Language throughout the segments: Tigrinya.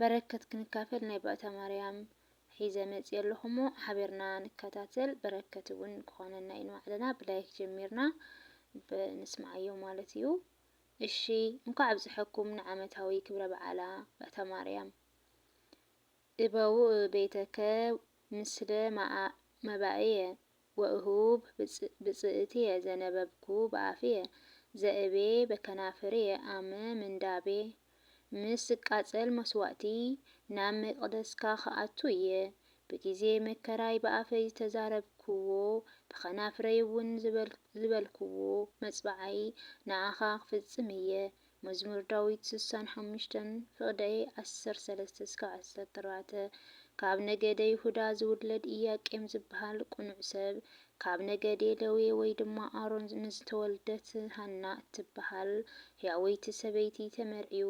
በረከት ክንካፈል ናይ ባእታ ማርያም ሒዘ መጽየ ኣለኹ'ሞ ሓቢርና ንከታተል በረከት እውን ክኾነና እዩ ንባዕልና ብላይክ ጀሚርና ንስምዓዮ ማለት እዩ እሺ እንኳዕ ኣብፀሐኩም ንዓመታዊ ክብረ በዓላ ባእታ ማርያም እበውእ ቤተከ ምስለ መባእየ ወእሁብ ብጽእትየ ዘነበብኩ ብኣፍየ፣ ዘእቤ በከናፍርየ ኣም ምንዳቤ። ምስ ዝቃጸል መስዋእቲ ናብ መቅደስካ ክኣቱ እየ፣ ብጊዜ መከራይ ብኣፈይ ዝተዛረብክዎ፣ ብከናፍረይውን ዝበልክዎ መጽብዓይ ንኣኻ ክፍጽም እየ፣ መዝሙር ዳዊት ስሳን ሓሙሽተን ፍቕደይ ዓሰርተ ሰለስተ እስካብ ዓሰርተ ኣርባዕተ ካብ ነገደ ይሁዳ ዝውለድ ኢያቄም ዝበሃል ቅኑዕ ሰብ ካብ ነገዴ ለዌ ወይ ድማ ኣሮን ንዝተወልደት ሃና እትበሃል ሕያወይቲ ሰበይቲ ተመርዕዩ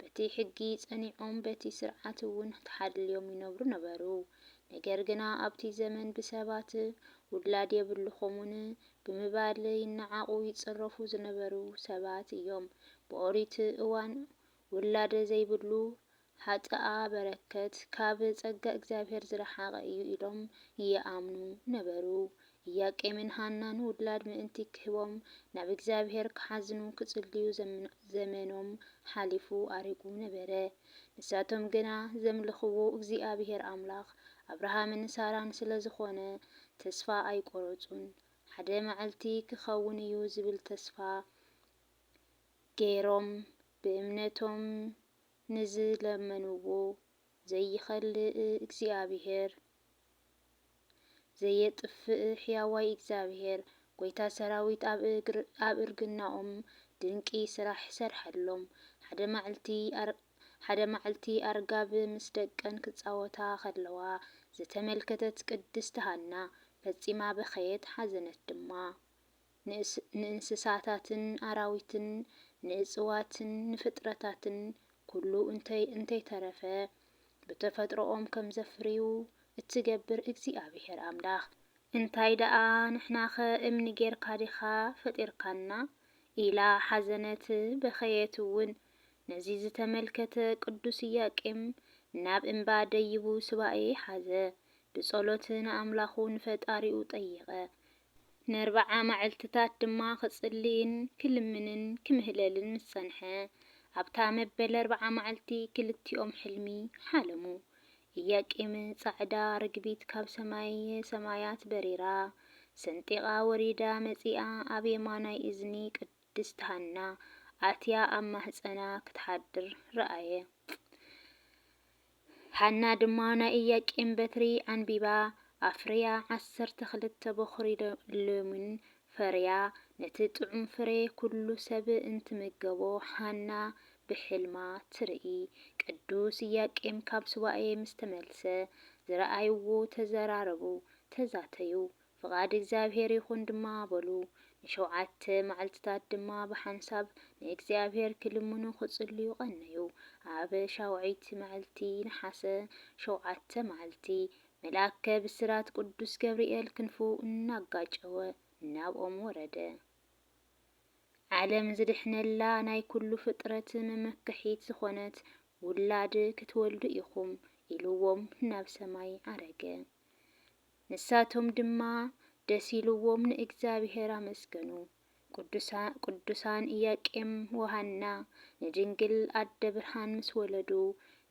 በቲ ሕጊ ጸኒዖም በቲ ስርዓት እውን ተሓልዮም ይነብሩ ነበሩ ነገር ግና ኣብቲ ዘመን ብሰባት ውላድ የብልኹሙን ብምባል ይነዓቑ ይጽረፉ ዝነበሩ ሰባት እዮም። ብኦሪት እዋን ውላድ ዘይብሉ ሓጥኣ በረከት ካብ ጸጋ እግዚኣብሔር ዝረሓቐ እዩ ኢሎም ይኣምኑ ነበሩ። ኢያቄምን ሃናን ውላድ ምእንቲ ክህቦም ናብ እግዚኣብሔር ክሓዝኑ ክጽልዩ ዘመኖም ሓሊፉ ኣሪጉ ነበረ። ንሳቶም ግና ዘምልኽዎ እግዚኣብሔር ኣምላኽ ኣብርሃምን ሳራን ስለዝኾነ ተስፋ ኣይቆረጹን ሓደ መዐልቲ ክከውን እዩ ዝብል ተስፋ ገይሮም ብእምነቶም ንዝለመንዎ ዘይከልእ እግዚኣብሔር ዘየጥፍእ ሕያዋይ እግዚኣብሔር ጎይታ ሰራዊት ኣብ እርግናኦም ድንቂ ስራሕ ሰርሐሎም ሓደ መዐልቲ ሓደ መዓልቲ ኣርጋብ ምስ ደቀን ክጻወታ ከለዋ ዝተመልከተት ቅድስቲ ሃና ፈጺማ በኸየት ሓዘነት ድማ። ንእንስሳታትን ኣራዊትን ንእጽዋትን ንፍጥረታትን ኩሉ እንተይ እንተይተረፈ ብተፈጥሮኦም ከም ዘፍርዩ እትገብር እግዚኣብሄር ኣምላኽ፣ እንታይ ደኣ ንሕናኸ እምኒ ጌርካ ዲኻ ፈጢርካና? ኢላ ሓዘነት በኸየት እውን። ነዚ ዝተመልከተ ቅዱስ ኢያቄም ናብ እምባ ደይቡ ሱባኤ ሓዘ፣ ብጸሎት ንኣምላኹ ንፈጣሪኡ ጠየቐ፣ ነርብዓ ማዕልትታት ድማ ክጽልይን ክልምንን ክምህለልን ምስ ጸንሐ፣ ኣብታ መበል ኣርብዓ ማዕልቲ ክልቲኦም ሕልሚ ሓለሙ፣ ኢያቄም ጻዕዳ ርግቢት ካብ ሰማየ ሰማያት በሪራ ሰንጢቓ ወሪዳ መጺኣ ኣብ የማናይ እዝኒ ቅዱስ። ድስቲ ሃና ኣትያ ኣብ ማህጸና ክትሓድር ረኣየ። ሃና ድማ ናይ ኢያቄም በትሪ ኣንቢባ ኣፍርያ ዓሰርተ ክልተ በዅሪ ለሚን ፈርያ። ነቲ ጥዑም ፍሬ ኵሉ ሰብ እንትምገቦ ሃና ብሕልማ ትርኢ። ቅዱስ ኢያቄም ካብ ሱባኤ ምስ ተመልሰ፣ ዝረኣይዎ ተዘራረቡ፣ ተዛተዩ። ፍቓድ እግዚኣብሄር ይኹን ድማ በሉ። ንሸውዓተ መዓልትታት ድማ ብሓንሳብ ንእግዚኣብሄር ክልምኑ ክጽልዩ ቐነዩ። ኣብ ሻውዐይቲ መዐልቲ ነሓሰ ሸውዓተ መዓልቲ፣ መልኣከ ብስራት ቅዱስ ገብርኤል ክንፉ እናጋጨወ ናብኦም ወረደ። ዓለም ዝድሕነላ ናይ ኩሉ ፍጥረት መመከሒት ዝኾነት ውላድ ክትወልዱ ኢኹም ኢልዎም ናብ ሰማይ ዓረገ። ንሳቶም ድማ ደስ ኢልዎም ንእግዚኣብሔር ኣመስገኑ። ቅዱሳን ኢያቄም ወሃና ንድንግል ኣደ ብርሃን ምስ ወለዱ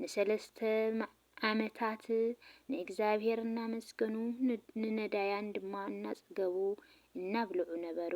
ንሰለስተ ዓመታት ንእግዚኣብሔር እናመስገኑ ንነዳያን ድማ እናጸገቡ እናብልዑ ነበሩ።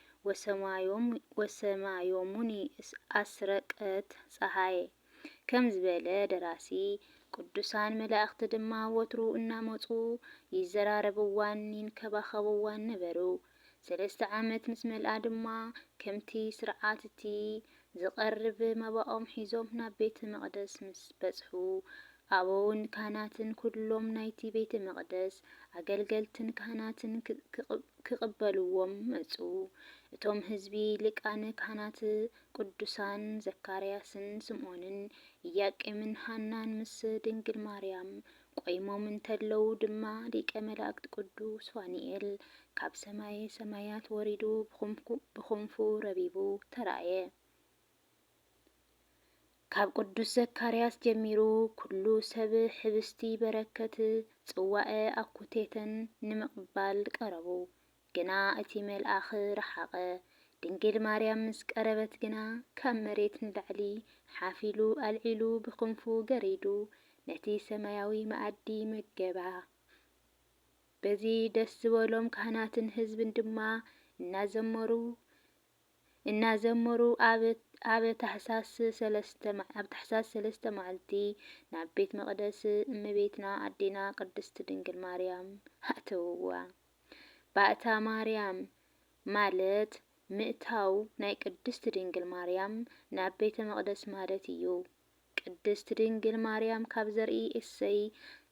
ወሰማዮሙኒ ኣስረቀት ጸሃየ ከም ዝበለ ደራሲ፣ ቅዱሳን መላእኽቲ ድማ ወትሩ እናመጹ ይዘራረብዋን ይንከባኸብዋን ነበሩ። ሰለስተ ዓመት ምስ መልኣ ድማ ከምቲ ሥርዓት'ቲ ዚቐርብ መባኦም ሒዞም ናብ ቤተ መቕደስ ምስ በጽሑ፣ ኣበውን ካህናትን ኵሎም ናይቲ ቤተ መቕደስ ኣገልገልትን ካህናትን ኪቕበልዎም መጹ። እቶም ህዝቢ፣ ሊቃነ ካህናት ቅዱሳን ዘካርያስን ስምዖንን፣ ኢያቄምን ሃናን ምስ ድንግል ማርያም ቆይሞም እንተለዉ ድማ ሊቀ መላእክት ቅዱስ ፋኑኤል ካብ ሰማየ ሰማያት ወሪዱ ብኽንፉ ረቢቡ ተራእየ። ካብ ቅዱስ ዘካርያስ ጀሚሩ ኩሉ ሰብ ሕብስቲ በረከት፣ ጽዋዐ ኣኩቴተን ንምቕባል ቀረቡ። ግና እቲ መልኣኽ ረሓቐ። ድንግል ማርያም ምስ ቀረበት ግና ካብ መሬት ንላዕሊ ሓፍ ኢሉ ኣልዒሉ ብክንፉ ገሪዱ ነቲ ሰማያዊ መኣዲ መገባ። በዚ ደስ ዝበሎም ካህናትን ህዝብን ድማ እናዘመሩ እናዘመሩ ኣብ ኣብ ታሕሳስ ሰለስተ ኣብ ታሕሳስ ሰለስተ መዓልቲ ናብ ቤት መቕደስ እመቤትና ኣዴና ቅድስት ድንግል ማርያም ኣእተውዋ። ባእታ ማርያም ማለት ምእታው ናይ ቅድስት ድንግል ማርያም ናብ ቤተ መቕደስ ማለት እዩ። ቅድስት ድንግል ማርያም ካብ ዘርኢ እሴይ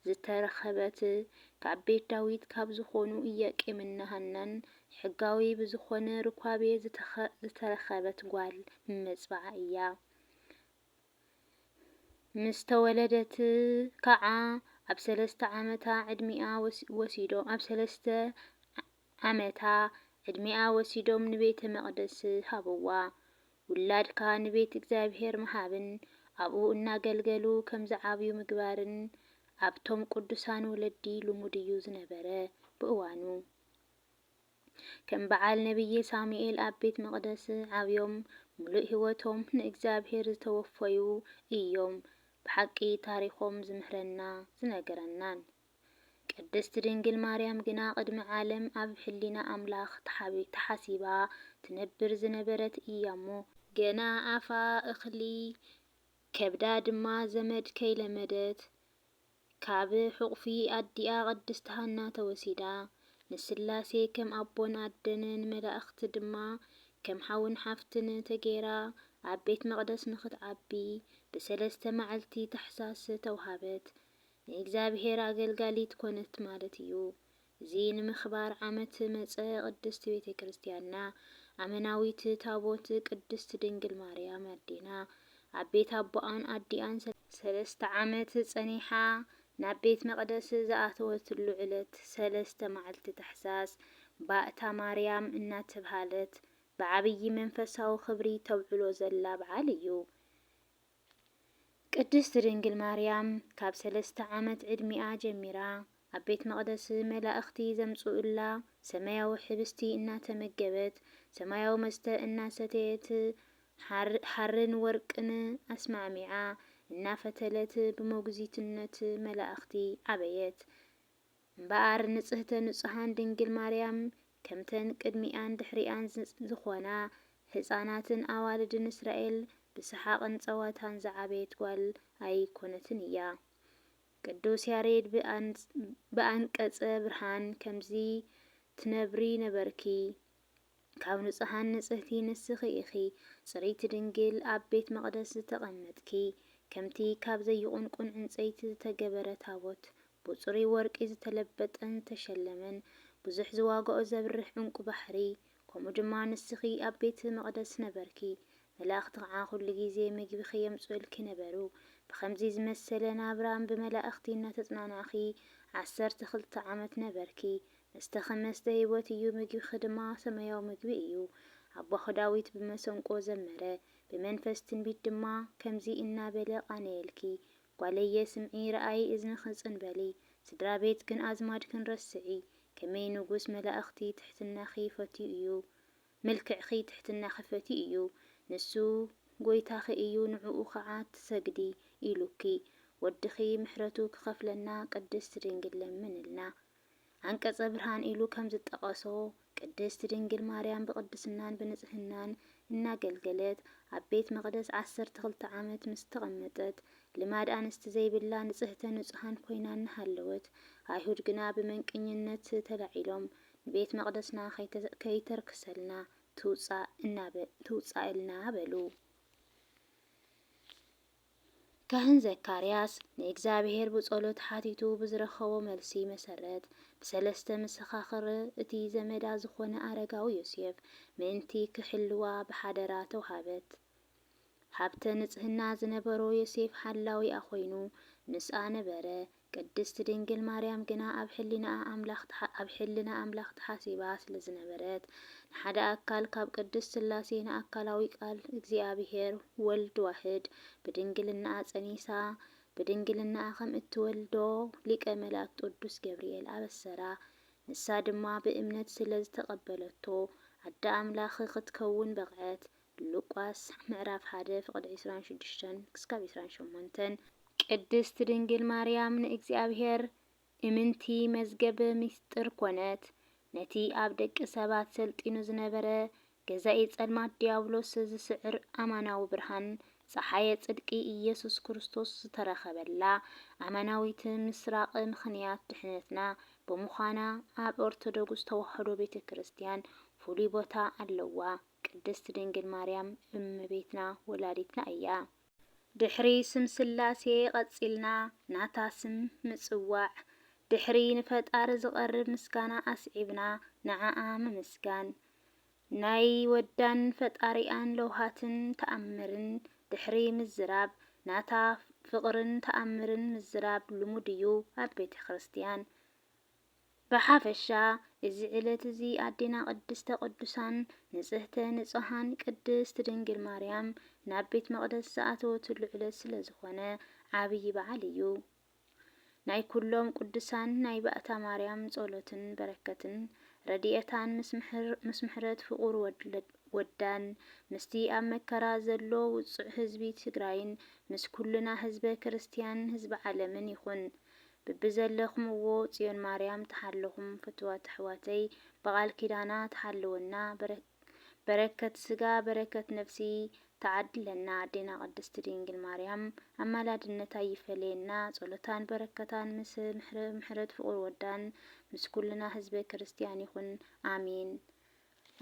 ዝተረኸበት ካብ ቤት ዳዊት ካብ ዝኾኑ ኢያቄምና ሃናን ሕጋዊ ብዝኾነ ርኳቤ ዝተረኸበት ጓል መጽብዓ እያ። ምስ ተወለደት ካዓ ኣብ ሰለስተ ዓመታ ዕድሚኣ ወሲዶም ኣብ ሰለስተ ዓመታ ዕድሚኣ ወሲዶም ንቤተ መቅደስ ሃብዋ። ውላድካ ንቤት እግዚኣብሔር ምሃብን ኣብኡ እናገልገሉ ከምዝዓብዩ ምግባርን ኣብቶም ቅዱሳን ወለዲ ልሙድ እዩ ዝነበረ ብእዋኑ። ከም በዓል ነብዪ ሳሙኤል ኣብ ቤት መቕደስ ዓብዮም ምሉእ ሕይወቶም ንእግዚኣብሔር ዝተወፈዩ እዮም ብሓቂ ታሪኾም ዝምህረና ዝነገረናን። ቅድስት ድንግል ማርያም ግና ቅድሚ ዓለም ኣብ ሕሊና ኣምላኽ ተሓሲባ ትነብር ዝነበረት እያሞ፣ ገና ኣፋ እኽሊ ከብዳ ድማ ዘመድ ከይለመደት ካብ ሕቑፊ ኣዲኣ ቅድስት ሃና ተወሲዳ፣ ንስላሴ ከም ኣቦን ኣደን ንመላእኽቲ ድማ ከም ሓውን ሓፍትን ተገይራ ኣብ ቤት መቕደስ ንኽትዓቢ ብሰለስተ መዓልቲ ታኅሣሥ ተውሃበት። ንእግዚኣብሔር ኣገልጋሊት ኮነት ማለት እዩ። እዚ ንምክባር ዓመት መጸ ቅድስት ቤተ ክርስቲያንና ኣመናዊት ታቦት ቅድስት ድንግል ማርያም ኣዴና ኣብ ቤት ኣቦኣን ኣዲኣን ሰለስተ ዓመት ጸኒሓ ናብ ቤት መቅደስ ዝኣተወትሉ ዕለት ሰለስተ ማዕልቲ ታሕሳስ ባእታ ማርያም እናተብሃለት ብዓብዪ መንፈሳዊ ክብሪ ተብዕሎ ዘላ ብዓል እዩ። ቅድስት ድንግል ማርያም ካብ ሰለስተ ዓመት ዕድሚኣ ጀሚራ ኣብ ቤት መቕደስ መላእኽቲ ዘምጽኡላ ሰማያዊ ሕብስቲ እናተመገበት ሰማያዊ መስተ እናሰተየት ሓርን ወርቅን ኣስማዕሚዓ እናፈተለት ብሞግዚትነት መላእኽቲ ዓበየት። እምበኣር ንጽህተ ንጹሃን ድንግል ማርያም ከምተን ቅድሚኣን ድሕሪኣን ዝኾና ህጻናትን ኣዋልድን እስራኤል ብሰሓቕን ጸወታን ዝዓበየት ጓል ኣይኮነትን እያ። ቅዱስ ያሬድ ብኣንቀጸ ብርሃን ከምዚ ትነብሪ ነበርኪ ካብ ንጹሃን ንጽህቲ ንስኺ ኢኺ፣ ጽርይቲ ድንግል፣ ኣብ ቤት መቕደስ ዝተቐመጥኪ፣ ከምቲ ካብ ዘይቑንቁን ዕንጸይቲ ዝተገበረ ታቦት፣ ብጽሩይ ወርቂ ዝተለበጠን ዝተሸለመን፣ ብዙሕ ዝዋጋኦ ዘብርህ ዕንቊ ባሕሪ፣ ከምኡ ድማ ንስኺ ኣብ ቤት መቕደስ ነበርኪ፣ መላእኽቲ ኸዓ ዅሉ ጊዜ ምግቢኺ የምጽኡልኪ ነበሩ፣ ብኸምዚ ዝመሰለ ናብራ ብመላእኽቲ እናተጽናናዕኺ ዓሰርተ ክልተ ዓመት ነበርኪ፣ መስተኺ መስተ ህይወት እዩ፣ ምግቢኺ ድማ ሰማያዊ ምግቢ እዩ። ኣቦኺ ዳዊት ብመሰንቆ ዘመረ፣ ብመንፈስ ትንቢት ድማ ከምዚ እናበለ ቓነየልኪ፣ ጓለየ፣ ስምዒ፣ ርኣዪ፣ እዝንኺ ጽን በሊ፣ ስድራ ቤትክን ኣዝማድክን ረስዒ። ከመይ ንጉስ መላእኽቲ ትሕትናኺ ፈትዩ እዩ፣ መልክዕኺ ትሕትናኺ ፈትዩ እዩ፣ ንሱ ጐይታኺ እዩ፣ ንዕኡ ኸዓ ትሰግዲ ኢሉኪ። ወድኺ ምሕረቱ ክኸፍለና ቅድስት ድንግል ለምንልና። ዓንቀጸ ብርሃን ኢሉ ከም ዝጠቐሶ፣ ቅድስት ድንግል ማርያም ብቕድስናን ብንጽህናን እናገልገለት ኣብ ቤት መቕደስ ዓሰርተ ክልተ ዓመት ምስ ተቐመጠት፣ ልማድ ኣንስቲ ዘይብላ ንጽህተ ንጹሃን ኮይና እናሃለወት፣ ኣይሁድ ግና ብመንቅኝነት ተላዒሎም ንቤት መቕደስና ከይተርክሰልና ትውጻእ ትውጻእ እልና በሉ። ካህን ዘካርያስ ንእግዚኣብሔር ብጸሎት ሓቲቱ ብዝረኸቦ መልሲ መሰረት፣ ብሰለስተ መሰኻኽር እቲ ዘመዳ ዝኾነ ኣረጋዊ ዮሴፍ ምእንቲ ክሕልዋ ብሓደራ ተውሃበት። ሃብተ ንጽህና ዝነበሮ ዮሴፍ ሓላዊኣ ኮይኑ ምስኣ ነበረ፣ ቅድስት ድንግል ማርያም ግና ኣብ ሕሊናኣ ኣምላኽ ኣብ ሕልና ኣምላኽ ተሓሲባ ስለ ዝነበረት ንሓደ ኣካል ካብ ቅድስት ሥላሴ ንኣካላዊ ቃል እግዚኣብሔር ወልድ ዋሕድ ብድንግልናኣ ጸኒሳ ብድንግልናኣ ከም እትወልዶ ሊቀ መላእክት ቅዱስ ገብርኤል ኣበሰራ ንሳ ድማ ብእምነት ስለ ዝተቀበለቶ ኣደ ኣምላኽ ክትከውን በቕዐት ሉቃስ ምዕራፍ ሓደ ፍቅዲ ዕስራን ሽዱሽተን ክስካብ ዕስራን ሸሞንተን። ቅድስት ድንግል ማርያም ንእግዚኣብሔር እምንቲ መዝገብ ምስጢር ኮነት። ነቲ ኣብ ደቂ ሰባት ሰልጢኑ ዝነበረ ገዛኢ ጸልማት ዲያብሎስ ዝስዕር ኣማናዊ ብርሃን ጸሓየ ጽድቂ ኢየሱስ ክርስቶስ ዝተረኸበላ ኣማናዊት ምስራቅ ምኽንያት ድሕነትና ብምዃና ኣብ ኦርቶዶግስ ተዋህዶ ቤተ ክርስቲያን ፍሉይ ቦታ ኣለዋ። ቅድስት ድንግል ማርያም እመቤትና ወላዲትና እያ። ድሕሪ ስም ስላሴ ቐጺልና ናታ ስም ምጽዋዕ፣ ድሕሪ ንፈጣሪ ዝቐርብ ምስጋና ኣስዒብና ንዓኣ ምምስጋን፣ ናይ ወዳን ፈጣሪኣን ለውሃትን ተኣምርን ድሕሪ ምዝራብ ናታ ፍቕርን ተኣምርን ምዝራብ ልሙድ እዩ ኣብ ቤተክርስትያን። ብሓፈሻ እዚ ዕለት እዚ ኣዴና ቅድስተ ቅዱሳን ንጽህተ ንጹሃን ቅድስት ድንግል ማርያም ናብ ቤት መቕደስ ዝኣተወትሉ ዕለት ስለ ዝኾነ ዓብዪ በዓል እዩ። ናይ ኩሎም ቅዱሳን ናይ ባእታ ማርያም ጸሎትን በረከትን ረድኤታን ምስ ምሕረት ፍቑር ወዳን ምስቲ ኣብ መከራ ዘሎ ውጹዕ ህዝቢ ትግራይን ምስ ኩልና ህዝበ ክርስትያን ህዝቢ ዓለምን ይኹን። ብብዘለኽምዎ ፅዮን ማርያም ትሓልኹም ፍትዋት ኣሕዋተይ ብቃል ኪዳና ትሓልወና በረከት ስጋ በረከት ነፍሲ ትዓድለና ኣዴና ቅድስት ድንግል ማርያም ኣማላድነታ ኣይፈለየና ፀሎታን በረከታን ምስ ምሕረት ፍቁር ወዳን ምስ ኩልና ህዝበ ክርስትያን ይኹን ኣሜን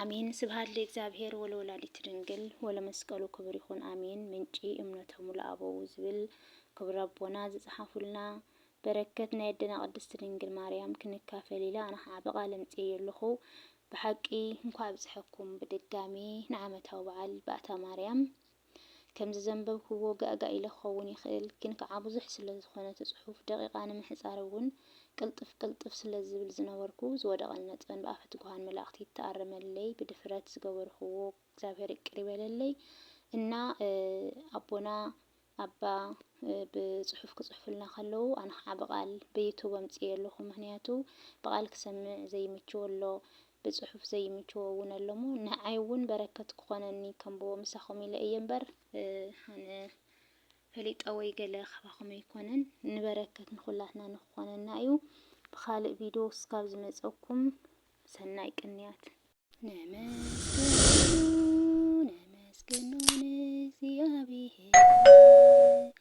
ኣሜን ስብሃት ልእግዚኣብሔር ወለወላዲቱ ድንግል ወለመስቀሉ ክብር ይኹን ኣሜን ምንጪ እምነቶሙ ለኣበዉ ዝብል ክቡር ኣቦና ዝጸሓፉልና በረከት ናይ ኣደና ቅድስት ድንግል ማርያም ክንካፈል ኢለ ኣነ ኸዓ ብቃል ኣምጺኤዮ ኣለኹ ብሓቂ እንኳዕ ኣብፀሐኩም ብድጋሚ ንዓመታዊ በዓል ባእታ ማርያም ከምዚ ዘንበብክዎ ጋእጋእ ኢለ ክኸውን ይኽእል፣ ግን ከኣ ብዙሕ ስለ ዝኾነ እቲ ጽሑፍ፣ ደቒቓ ንምሕጻር እውን ቅልጥፍ ቅልጥፍ ስለ ዝብል ዝነበርኩ፣ ዝወደቐኒ ነጥበን ብኣፈ ትጉሃን መላእኽቲ ይተኣረመለይ፣ ብድፍረት ዝገበርክዎ እግዚኣብሔር ይቅር ይበለለይ እና ኣቦና ኣባ ብጽሑፍ ክጽሕፉልና ከለዉ ኣነ ከኣ ብቃል ብዩቱብ ኣምጽኤ ኣለኹ፣ ምክንያቱ ብቃል ክሰምዕ ዘይምችዎ ኣሎ፣ ብጽሑፍ ዘይምችዎ እውን ኣሎሞ ንዓይ እውን በረከት ክኾነኒ ከንብቦ ምሳኹም ኢለ እየ እምበር ኣነ ፈሊጠ ወይ ገለ ካባኹም ኣይኮነን ንበረከት ንኹላትና ንክኾነና እዩ ብኻልእ ቪድዮ እስካብ ዝመጸኩም ሰናይ ቅንያት ነመስግኖ ነመስግኖ ንእግዚኣብሔር